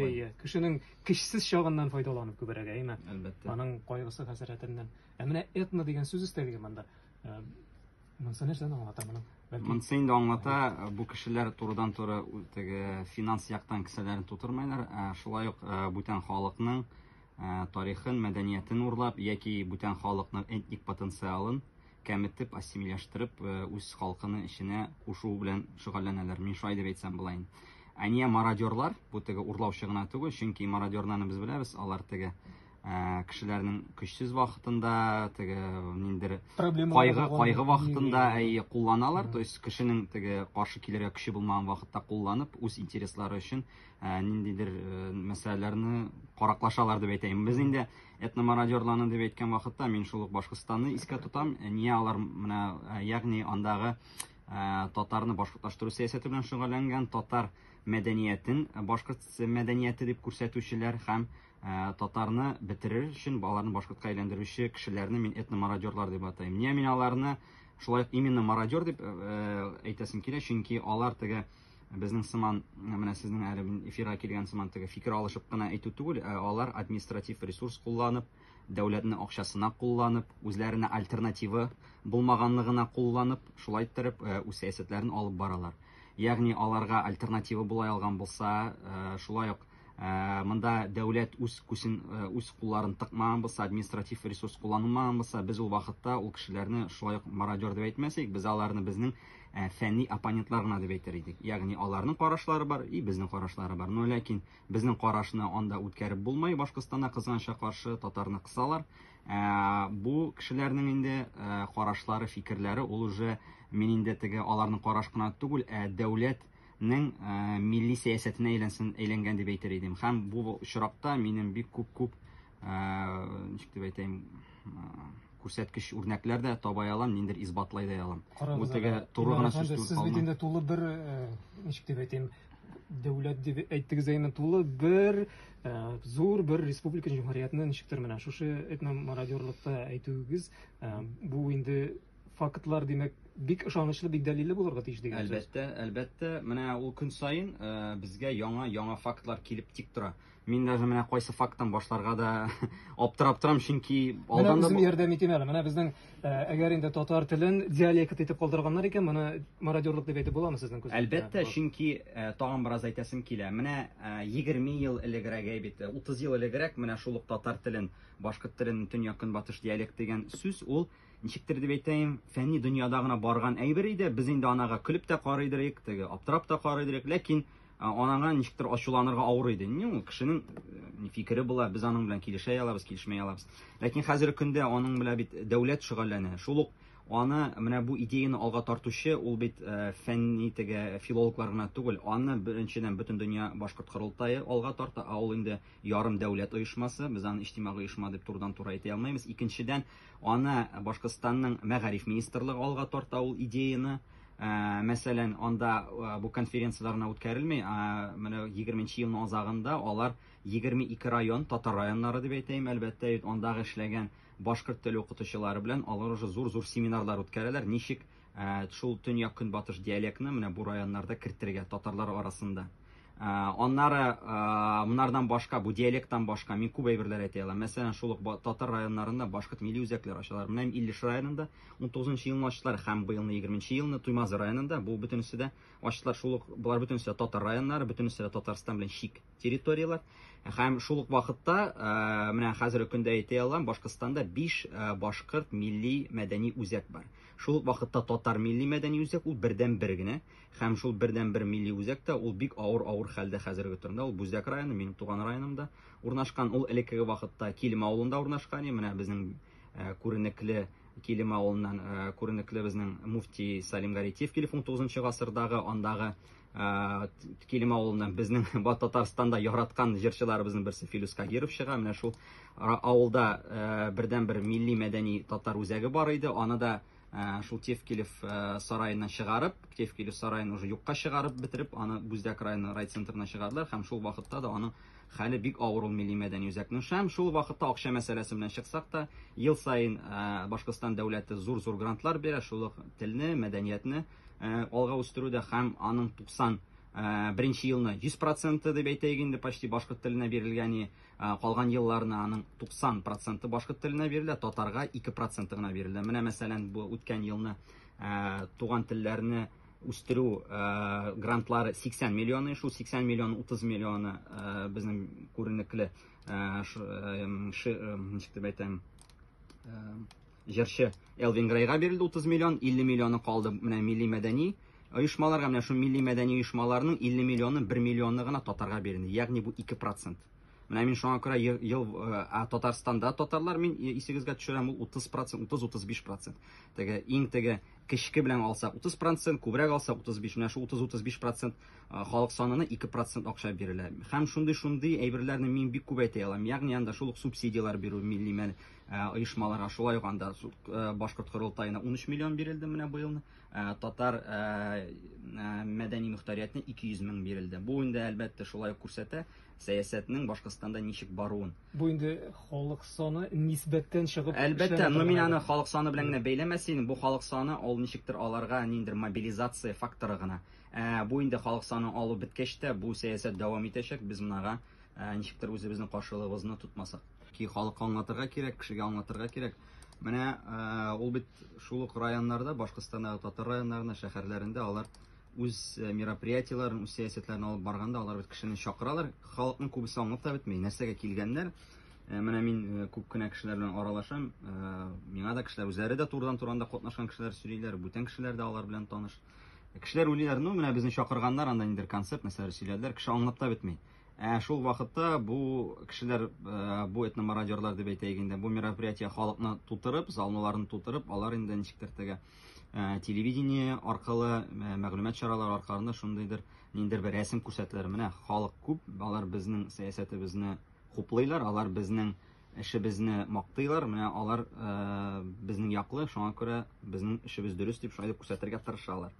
Әйе, кешенең кешсез чагыннан файдаланып күберәк, әйме? Әлбәттә. Аның кайгысы хәсрәтеннән. Ә менә этно дигән сүз өстәлгән монда. Э, монысы нәрсәне аңлата моның? Монысы инде аңлата, э, бу кешеләр турыдан туры теге финанс яктан кесәләрен тутырмайлар, ә шулай ук э, бүтән халыкның тарихын, мәдәниятен урлап яки бүтән халыкның этник потенциалын кәметеп, ассимиляштырып, э, үз халкының эченә кушу белән шөгыльләнәләр. Мин шулай дип әйтсәм була инде. Ә нигә мародерлар? Бу теге урлаучы гына түгел, чөнки мародерларны без беләбез, алар теге э, кешеләрнең көчсез вакытында, теге ниндер кайгы, кайгы вакытында әйе кулланалар, то есть кешенең теге каршы килергә көче булмаган вакытта кулланып, үз интереслары өчен ә, ниндидер ә, мәсьәләләрне караклашалар дип әйтәйем. Без инде этномародерларны дип әйткән вакытта мин шул ук Башкортстанны искә тотам. Ә, Ния алар менә ә, ягъни андагы ә, татарны башкортлаштыру сәясәте белән шөгыльләнгән, татар мәдәниятен ә, башкорт мәдәнияте дип күрсәтүчеләр һәм ә, татарны бетерер өчен балаларны башкортка әйләндерүче кешеләрне мин этномародерлар дип атыйм. Ния мин аларны шулай ук именно мародер дип ә, ә, әйтәсем килә, чөнки алар теге Безнең сыман, менә сезнең әле эфирга килгән сыман теге фикер алышып кына әйтү түгел, ә алар административ ресурс кулланып, дәүләтне акчасына кулланып, үзләренә альтернативы булмаганлыгына кулланып, шулай иттереп э, үз сәясәтләрен алып баралар. Ягъни аларга альтернатива була алган булса, э, шулай ук Ә, монда дәүләт үз күсен ә, үз кулларын тыкмаган булса административ ресурс кулланылмаган булса без ул вакытта ул кешеләрне шулай ук мародер дип әйтмәс без аларны безнең ә, фәнни оппонентлар гына дип әйтер идек ягъни аларның карашлары бар и безнең карашлары бар но ләкин безнең карашны анда үткәреп булмай башкортстанда кызганча каршы татарны кысалар ә, бу кешеләрнең инде ә, карашлары фикерләре ул уже мин инде теге аларның караш кына түгел ә дәүләт Нең милли сәясәтенә әйләнсен, әйләнгән дип әйтер идем. Һәм бу очракта минем бик күп-күп, ничек дип әйтәйм, күрсәткеч үрнәкләр дә табай алам, ниндер исбатлай да алам. Бу теге туры гына сүз түгел. Сез бит инде тулы бер, ничек дип әйтәйм, дәүләт дип әйттегез әйме, тулы бер зур бер республика җәмгыятеннән чыктыр менә шушы этномародерлыкта әйтүегез, бу инде фактлар, димәк, бик ышанычлы, бик дәлилле булырга тиеш дигән сүз. Әлбәттә, әлбәттә, менә ул көн саен э, безгә яңа яңа фактлар килеп тик тора. Мин даже менә кайсы факттан башларга да аптырап торам, чөнки Менә алдан да үзем ярдәм итим әле. Менә безнең э, әгәр инде татар телен диалект итеп калдырганнар икән, моны мародерлык дип әйтеп буламы сезнең күзегездә? Әлбәттә, чөнки э, тагын бераз әйтәсем килә. Менә э, 20 ел элегрәк әйбит, 30 ел элегрәк менә шул ук татар телен, башкорт телен төньяк-көнбатыш диалект дигән сүз ул Ничектер дип әйтәем, фәнни дөньяда гына барган әйбер иде. Без инде анага көлеп тә карый идек, теге аптырап та карый идек, ләкин анага ничектер ачуланырга авыр иде. Ни ул кешенең э, фикере була, без аның белән килешә алабыз, килешмәй алабыз. Ләкин хәзерге көндә аның белән бит дәүләт шөгыльләнә. Шул ук аны менә бу идеяны алга тартучы ул бит э, фәнни теге филологлар гына түгел. Аны беренчедән бөтен дөнья башкорт корылтае алга тарта, ә ул инде ярым дәүләт оешмасы. Без аны иҗтимагый оешма дип турыдан-туры әйтә алмыйбыз. Икенчедән, Аны Башкортстанның Мәгариф министрлыгы алга тарта ул идеяне. Мәсәлән, анда бу конференцияләр генә үткәрелми, ә менә 20 нче елның азагында алар 22 район, татар районнары дип әйтәем, әлбәттә, бит андагы эшләгән башкорт теле укытучылары белән алар уже зур-зур семинарлар үткәрәләр, ничек Ә, шул төньяк-көнбатыш диалектны менә бу районнарда кертергә татарлар арасында. Ә, аннары ә, монардан башка, бу диалекттан башка мин күп әйберләр әйтә алам. Мәсәлән, шул ук татар районнарында башкорт милли үзәкләре ачалар. Менә Иллеш районында 19 елны ачтылар һәм быелны 20 елны Туймазы районында. Бу бөтенесе дә ачтылар. Шул ук болар бөтенесе татар районнары, бөтенесе дә Татарстан белән шик. территорияләр. Һәм шул ук вакытта, э, менә хәзерге көндә әйтә алам, Башкортстанда 5 э, башкорт милли мәдәни үзәк бар. Шул ук вакытта татар милли мәдәни үзәк ул бердән бер генә. Һәм шул бердән бер милли үзәк тә ул бик авыр авыр хәлдә хәзерге турында. Ул Бүзәк районы, минем туган районымда урнашкан. Ул элеккеге вакытта Килем авылында урнашкан. Менә безнең э, күренекле Килем авылыннан күренекле безнең муфти Салим Гаритев килеп 19 гасырдагы андагы Килем авылыннан безнең Бат Татарстанда яраткан җырчыларыбызның берсе Филүс Кагиров чыга. Менә шул авылда бердәнбер милли мәдәни татар үзәге бар иде. Аны да шул Тевкилев сараеннан чыгарып, Тевкилев сараен уже юкка чыгарып бетереп, аны Бүздәк районы райцентрына чыгардылар һәм шул вакытта да аның хәле бик авыр ул милли мәдәни үзәкнең. Һәм шул вакытта акча мәсьәләсе белән чыксак та, ел саен Башкортстан дәүләте зур-зур грантлар бирә, шул ук телне, мәдәниятне алга үстерүдә һәм аның 90 беренче елны 100 проценты дип әйтәйек инде почти башкорт теленә бирелгән и калган елларына аның 90 проценты башкорт теленә бирелә татарга 2 проценты гына бирелә менә мәсәлән бу үткән елны туган телләрне үстерү грантлары 80 миллион шул 80 миллион 30 миллионы безнең күренекле ничек дип әйтәм Җырчы Элвин Грейга бирелде 30 миллион, 50 миллионы калды менә милли-мәдәни оешмаларга, менә шул милли-мәдәни оешмаларның 50 миллионы, 1 миллионы гына татарга бирелде, ягъни бу 2 процент. Менә мин шуңа күрә ел, ел ә, Татарстанда татарлар мин исегезгә төшерәм, ул 30 процент, 30-35 процент. Теге иң теге кечке белән алсак 30 процент, күбрәк алсак 35, менә шул 30-35 процент халык санына 2 процент акча бирелә. Һәм шундый-шундый әйберләрне мин бик күп әйтә алам. Ягъни анда шул ук субсидияләр бирү милли мәл оешмаларга шулай ук анда башкорт корылтаена 13 миллион бирелде менә быел татар мәдәни мөхтәриятне 200 мең бирелде бу инде әлбәттә шулай ук күрсәтә сәясәтнең башкортстанда ничек баруын бу инде халык саны нисбәттән чыгып әлбәттә но мин аны халык саны белән генә бәйләмәс идем бу халык саны ул ничектер аларга ниндер мобилизация факторы гына бу инде халык саны алу беткәч тә бу сәясәт дәвам итәчәк без монага ә, ничектер үзебезнең каршылыгыбызны тотмасак. Ки халыкка аңлатырга кирәк, кешегә аңлатырга кирәк. Менә ә, ул бит шул ук районнарда, Башкортстандагы татар районнарында, шәһәрләрендә алар үз э, мероприятиеләрен, үз сәясәтләрен алып барганда, алар бит кешене чакыралар. Халыкның күбесе аңлап та бетми, нәрсәгә килгәннәр. Э, менә мин э, күп кенә кешеләр белән аралашам. Э, миңа да кешеләр үзләре дә турыдан-туры анда катнашкан кешеләр сөйлиләр, бүтән кешеләр дә алар белән таныш. Кешеләр уйлыйлар, ну менә безне чакырганнар, анда ниндер концерт, нәрсәләр сөйләделәр, кеше аңлап та бетми. Ә шул вакытта бу кешеләр, э, бу этномародерлар дип әйтәйек инде, бу мероприятие халыкны тутырып, залныларны тутырып, алар инде ничектер теге э, телевидение аркылы, э, мәгълүмат чаралары аркылы шундыйдыр ниндер бер рәсем күрсәтәләр. Менә халык күп, алар безнең сәясәтебезне хуплыйлар, алар безнең Эшебезне мактыйлар, менә алар безнең яклы, шуңа күрә безнең эшебез дөрес дип шулай дип күрсәтергә тырышалар.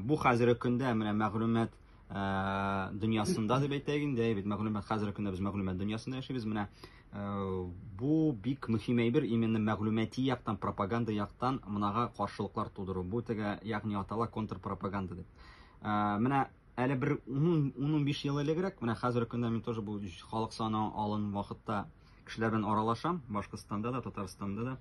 Бу хәзерге көндә менә мәгълүмат Э, дөньясында дип әйтәйек инде бит мәгълүмат хәзерге көндә без мәгълүмат дөньясында яшибез менә э, бу бик мөһим әйбер именно мәгълүмати яктан пропаганда яктан мынага каршылыклар тудыру бу теге ягъни атала контрпропаганда дип э, менә Әле бер ун-унбиш ел элегрәк, менә хәзерге көндә мин тоже бу халык саны алын вакытта кешеләр белән аралашам, Башкортстанда да, Татарстанда да.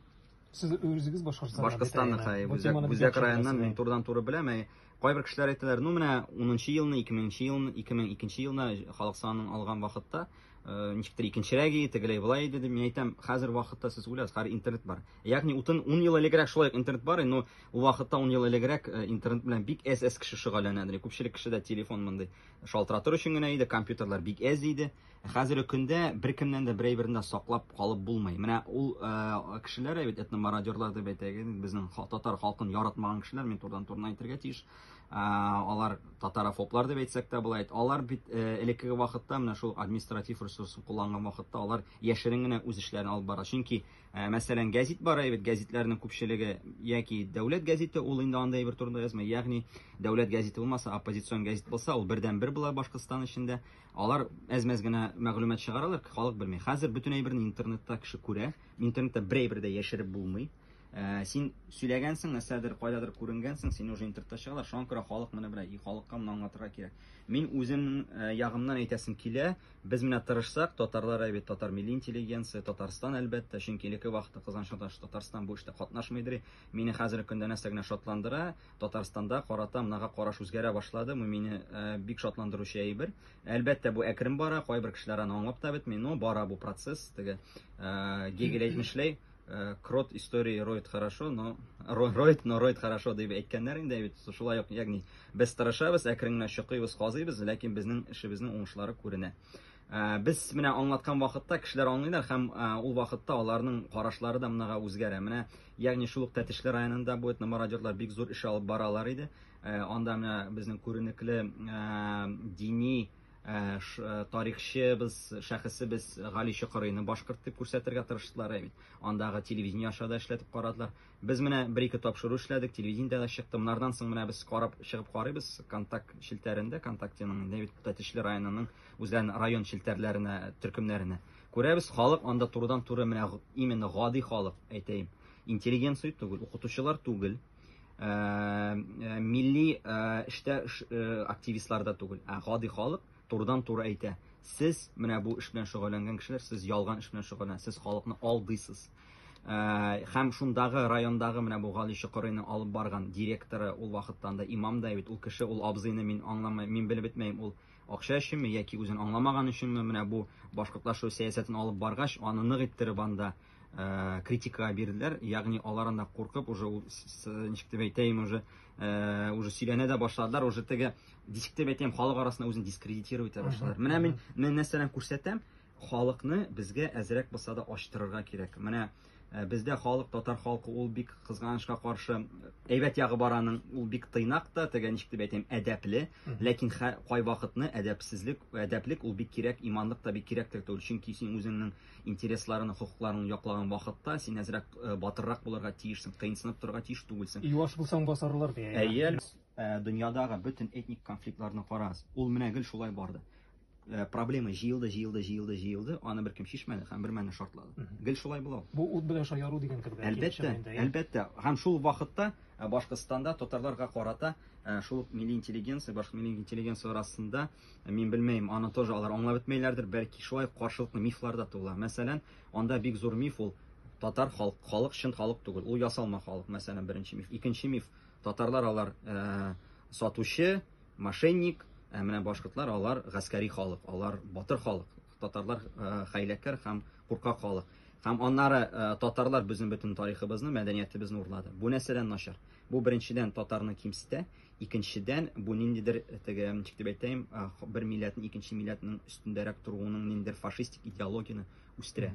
Сез үзегез Башкортстаннан бит, Башкортстаннан, әйеме? хәй, Бу Үзәк, теманы бик Үзәк яхшы районнан беләсез, мин әй. турыдан-туры беләм. Әй, Кайбер кешеләр әйтәләр, ну менә унынчы елны, икеменче елны, 2002 елны халык санын алган вакытта, Э, ничектер икенчерәк иде тегеләй былай иде деп мин әйтәм хәзер вакытта сез уйлаңыз хәзер интернет бар ягъни утын ун ел элегрәк шулай интернет бар но ул вакытта ун ел элегрәк э, интернет белән бик әз әз кеше шөгыльләнәдер күпчелек кешедә телефон мондый шалтыратыр өчен генә иде компьютерлар бик әз иде ә хәзерге көндә беркемнән дә бер әйберне саклап калып булмый менә ул э, кешеләр бит этномародерлар дип әйтәгез безнең татар халкын яратмаган кешеләр мин турыдан турына әйтергә тиеш алар татарофоблар дип әйтсәк тә була бит алар бит э, элеккеге вакытта менә шул административ ресурсын кулланган вакытта алар яшерен генә үз эшләрен алып бара чөнки э, мәсәлән гәзит бара бит гәзитләрнең күпчелеге яки дәүләт гәзите ул инде анда әйбер турында язмый ягъни дәүләт гәзите булмаса оппозицион гәзит булса ул бердән бер була башкортстан эчендә алар әз-мәз генә мәгълүмат чыгаралар халык белми хәзер бөтен әйберне интернетта кеше күрә интернетта бер әйбер дә яшереп булмый Син сөйләгәнсең, нәрсәдер, кайдадыр күренгәнсең, сине уже интернетта чыгалар, шуңа күрә халык моны белә, и халыкка моны аңлатырга кирәк. Мин үзем э, ягымнан әйтәсем килә, без менә тырышсак, татарлар әйбәт, татар милли интеллигенция, Татарстан әлбәттә, чөнки элекке вакытта кызганычка каршы Татарстан бу эштә катнашмыйдыр. Мине хәзерге көндә нәрсә генә шатландыра, Татарстанда карата монага караш үзгәрә башлады, бу мине э, бик шатландыручы әйбер. Әлбәттә, бу әкрен бара, кайбер кешеләр аны аңлап та бетми, но бара бу процесс, теге э, Гегель әйтмешләй, Э, крот истории роет хорошо, но роет, но роет хорошо дип әйткәннәр инде бит. Шулай ук, ягъни без тырышабыз, әкрен генә чыкыйбыз, казыйбыз, ләкин безнең эшебезнең уңышлары күренә. Э, без менә аңлаткан вакытта кешеләр аңлыйлар һәм э, ул вакытта аларның карашлары да монага үзгәрә. Менә ягъни шул ук Тәтешле районында бу этномародерлар бик зур эш алып баралар иде. Анда менә безнең күренекле дини Ә, ш, ә, тарихчыбыз, шәхесебез Гали Чокырыйны башкорт дип күрсәтергә тырыштылар, ә бит. Андагы телевидение аша да эшләтеп карадылар. Без менә бер-ике тапшыру эшләдек, телевидениедә дә чыкты. Монардан соң менә без карап чыгып карыйбыз контакт челтәрендә, контактеның инде бит Тәтешле районының үзләренең район челтәрләренә, төркемнәренә. Күрәбез, халык анда турыдан-туры менә именно гади халык, әйтәем. Интеллигенция түгел, укытучылар түгел, Э, э, милли э, эштә активистлар да түгел, ә гади халык турыдан туры әйтә. Сез менә бу эш белән шөгыльләнгән кешеләр, сез ялган эш белән шөгыльләнәсез, сез халыкны алдыйсыз. Һәм шундагы райондагы менә бу Гали Чокырыйны алып барган директоры ул вакыттан да имам да бит, ул кеше, ул абзыйны мин аңламыйм, мин белеп бетмәйм, ул акча өченме яки үзен аңламаган өченме менә бу башкортлашу сәясәтен алып баргач, аны нык иттереп анда Э, критика бирделәр ягъни алардан да куркып уже ул ничек дип әйтәйем уже э, уже сөйләнә дә башладылар уже теге ничек дип әйтәйем халык арасында үзен дискредитировать итә башладылар менә мин менә нәрсәләрен күрсәтәм халыкны безгә әзрәк булса да ачтырырга кирәк менә э, бездә халык татар халкы ул бик кызганычка каршы әйбәт ягы бар аның ул бик тыйнак та теге ничек дип әйтәйем әдәпле ләкин кайвакытны әдәпсезлек әдәплек ул бик кирәк иманлык та бик кирәктер түгел чөнки син үзеңнең Интересларын, хокукларын яклаган вакытта син әзрәк батыррак булырга тиешсең, кыенсынып торырга тиеш түгелсең. Юаш булсаң басарлар, ди. Әйе әле. Дөньядагы бөтен этник конфликтларны карагыз, ул менә гел шулай барды. Проблема җыелды, җыелды, җыелды, җыелды, аны беркем чишмәде һәм бермәлне шартлады. Гел шулай була ул. Бу ут белән шаяру дигән кебек. Әлбәттә, әлбәттә. Һәм шул ук вакытта Башкортстанда татарларга карата шул ук милли интеллигенция, башка милли интеллигенция арасында Мин белмәем, аны тоже алар аңлап бетмәйләрдер, бәлки шулай каршылыклы мифлар да туыла. Мәсәлән, анда бик зур миф ул, татар халк, халык чын халык түгел, ул ясалма халык, мәсәлән, беренче миф. Икенче миф, татарлар алар сатучы, мошенник, ә менә башкортлар алар гаскәри халык, алар батыр халык, татарлар хәйләкәр һәм куркак халык. Һәм аннары татарлар безнең бөтен тарихыбызны, мәдәниятебезне урлады. Бу нәрсәдән начар? Бу беренчедән татарны кимсетә, Икенчедән, бу ниндидер теге, ничек дип әйтәем, бер милләтнең икенче милләтнең өстендәрәк торуының ниндидер фашистик идеологияне үстерә.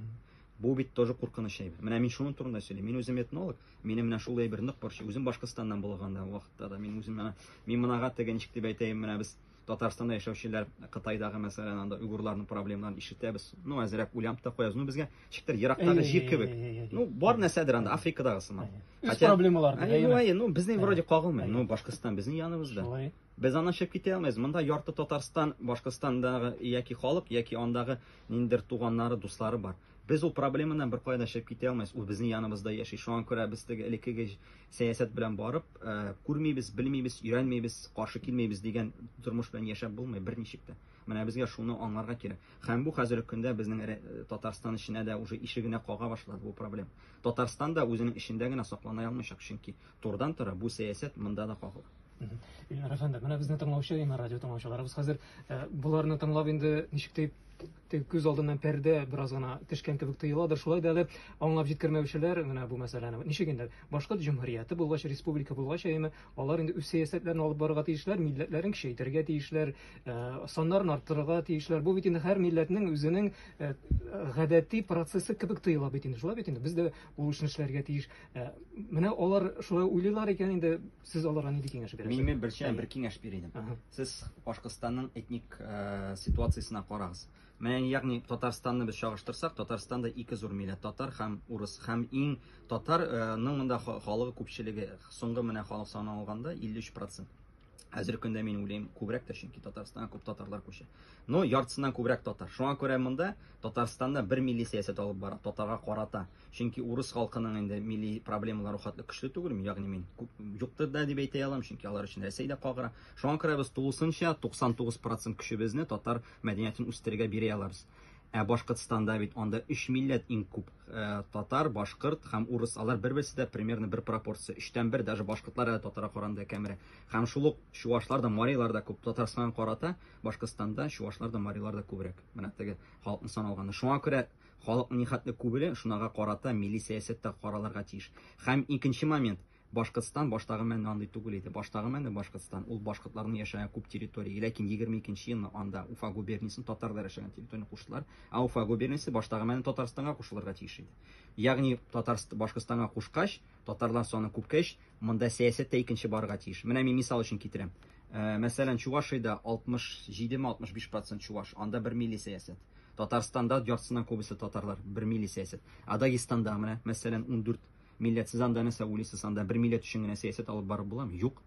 Бу бит тоже куркыныч әйбер. Менә мин шуның турында сөйлим. Мин үзем этнолог, минем менә шул әйбер нык борчый. Үзем Башкортстаннан булганда вакытта да мин үзем менә мин монага теге ничек дип әйтәем, менә без Татарстанда яшәүчеләр Кытайдагы мәсәлән анда уйгурларның проблемаларын ишетәбез. Ну, әзрәк уйланып та куябыз. Ну, безгә чиктер ерактагы җир кебек. Ну, бар нәрсәдер анда Африкадагы сыман. Үз проблемалар. Әйе, ну, безнең вроде кагылмый. Ну, Башкортстан безнең яныбызда. Шулай. Без аннан чыгып китә алмыйбыз. Монда ярты Татарстан, Башкортстандагы яки халык, яки андагы ниндер туганнары, дуслары бар. Без ул проблемадан бер кайда чыгып китә алмыйбыз. Ул безнең яныбызда яши. Шуңа күрә без теге элеккеге Сәясәт белән барып, күрмибез, белмибез, өйрәнмибез, каршы килмибез дигән тормыш белән яшәп булмый берничек тә. Менә безгә шуны аңларга кирәк. Һәм бу хәзерге көндә безнең Татарстан эченә дә уже ишегенә кага башлады бу проблем. Татарстан да үзенең эчендә генә саклана алмыйчак, чөнки турыдан-туры бу сәясәт монда да кагыла. Ильнар әфәнде, менә безне тыңлаучы, янә радио тыңлаучыларыбыз хәзер, боларны тыңлап инде ничек дип теге күз алдыннан пәрдә бераз гына төшкән кебек тоеладыр. Шулай да әле аңлап җиткермәүчеләр менә бу мәсьәләне. Ничек инде? Башкорт җөмһүрияте булгач, республика булгач, әйеме, алар инде үз сәясәтләрен алып барырга тиешләр, милләтләрен кичәйтергә тиешләр, э, саннарын арттырырга тиешләр. Бу бит инде һәр милләтнең үзенең э, гадәти процессы кебек тоела бит инде. Шулай бит инде. Без дә ул эшне эшләргә тиеш. Э, менә алар шулай уйлыйлар икән инде Сез аларга нинди киңәш бирәсез? Мин мин берчә бер киңәш бир идем. Сез Башкортстанның этник э, ситуациясенә карагыз. Менә ягъни Татарстанны без чагыштырсак, Татарстанда ике зур милләт татар һәм урыс һәм иң татарның э, монда халыгы күпчелеге соңгы менә халык саны алганда 53%. Әзер көндә мин уйлыйм, күбрәк тә чөнки Татарстанга күп татарлар күчә. Но яртысыннан күбрәк татар. Шуңа күрә монда Татарстанда бер милли сәясәт алып бара, татарга карата. Чөнки урыс халкының инде милли проблемалары у хәтле көчле түгелме, ягъни мин күп юктыр да дип әйтә алам, чөнки алар өчен Рәсәй дә кагыра. Шуңа күрә без тулысынча 99 процент көчебезне татар мәдәниятен үстерергә бирә алабыз. Ә Башкортстанда бит анда өч милләт иң күп, э, татар, башкорт һәм урыс. Алар бер-берсе дә примерно бер пропорция, өчтән бер, даже башкортлар әле татарга караганда кәмерәк. Һәм шул ук чувашлар да, марилар да күп. Татарстанга карата Башкортстанда чувашлар да, марилар да күбрәк. Менә теге халыкны саналганда. Шуңа күрә Халыкның нихәтле күбеле шунага карата милли сәясәт тә каралырга тиеш. Хәм икенче момент, Башкортстан баштагы мәне андый түгел иде. Баштагы мәне Башкортстан, ул башкортларның яшәгән күп территория. Ләкин егерме икенче елны анда Уфа губерниясен татарлар яшәгән территорияне куштылар. Ә Уфа губерниясе баштагы мәне Татарстанга кушылырга тиеш иде. Ягъни Татарст Башкортстанга кушкач, татарлар саны күпкәч, Монда сәясәт тә икенче барырга тиеш. Менә мин мисал өчен китерәм. Мәсәлән, Чувашиядә 67-65 процент чуваш, анда бер милли сәясәт. Татарстанда яртысыннан күбесе татарлар, бер милли сәясәт. Ә Дагестанда менә, мәсәлән, 14 милләт, сез анда нәрсә уйлыйсыз, анда бер милләт өчен генә сәясәт алып барып буламы? Юк.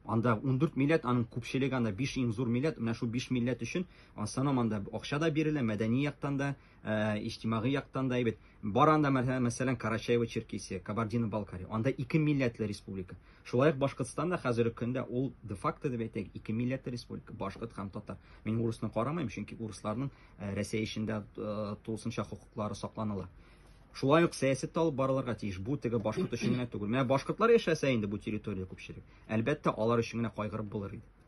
Анда 14 милләт, аның күпчелеге анда 5 иң зур милләт, менә шул 5 милләт өчен, санам анда акча да бирелә, мәдәни яктан да, Э, иҗтимагый яктан да әйбәт. Бар анда мәсәлән Карачаево Черкесия, Кабардино Балкария. Анда ике милләтле республика. Шулай ук Башкортстан да хәзерге көндә ул де факто дип әйтәк, ике милләтле республика, башкорт һәм татар. Мин урысны карамыйм, чөнки урысларның э, Рәсәй эчендә э, тулысынча хокуклары сакланыла. Шулай ук сәясәт алып барылырга тиеш. Бу теге башкорт өчен генә түгел. Менә башкортлар яшәсә инде бу территория күпчелек. Әлбәттә, алар өчен генә кайгырып булыр иде.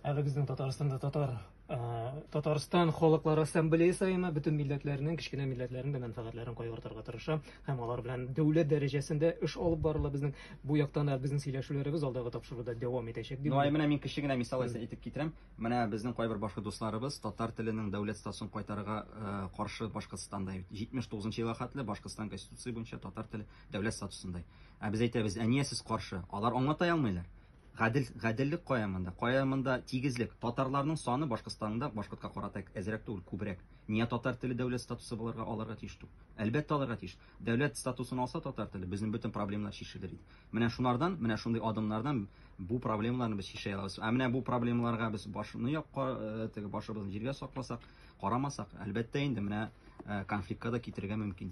Әле безнең Татарстанда татар Татарстан халыклар ассамблея саена бөтен милләтләрнең, кечкенә милләтләрнең дә мәнфәгатьләрен кайгыртырга тырыша һәм алар белән дәүләт дәрәҗәсендә эш алып барыла. Безнең бу яктан да безнең сөйләшүләребез алдагы тапшыруда дәвам итәчәк дип. Ну, ай менә мин кече генә мисал әйтеп китерәм. Менә безнең кайбер башка дусларыбыз татар теленең дәүләт статусын кайтарырга э, каршы Башкортстанда 79 елга хәтле Башкортстан конституция буенча татар теле дәүләт статусында. Ә без әйтәбез, ә нигә сез каршы? Алар аңлата алмыйлар. Гадел, гаделлек кая монда? Кая монда тигезлек? Татарларның саны Башкортстанда башкортка карата әзрәк түгел, күбрәк. Ния татар теле дәүләт статусы боларга алырга тиеш түгел? Әлбәттә алырга тиеш. Дәүләт статусын алса татар теле, безнең бөтен проблемнар чишелер иде. Менә шунардан, менә шундый адымнардан бу проблемаларны без чишә алабыз. Ә менә бу проблемаларга без башны якка, э, теге башыбызны җиргә сакласак, карамасак, әлбәттә инде менә э, конфликтка да китерергә мөмкин.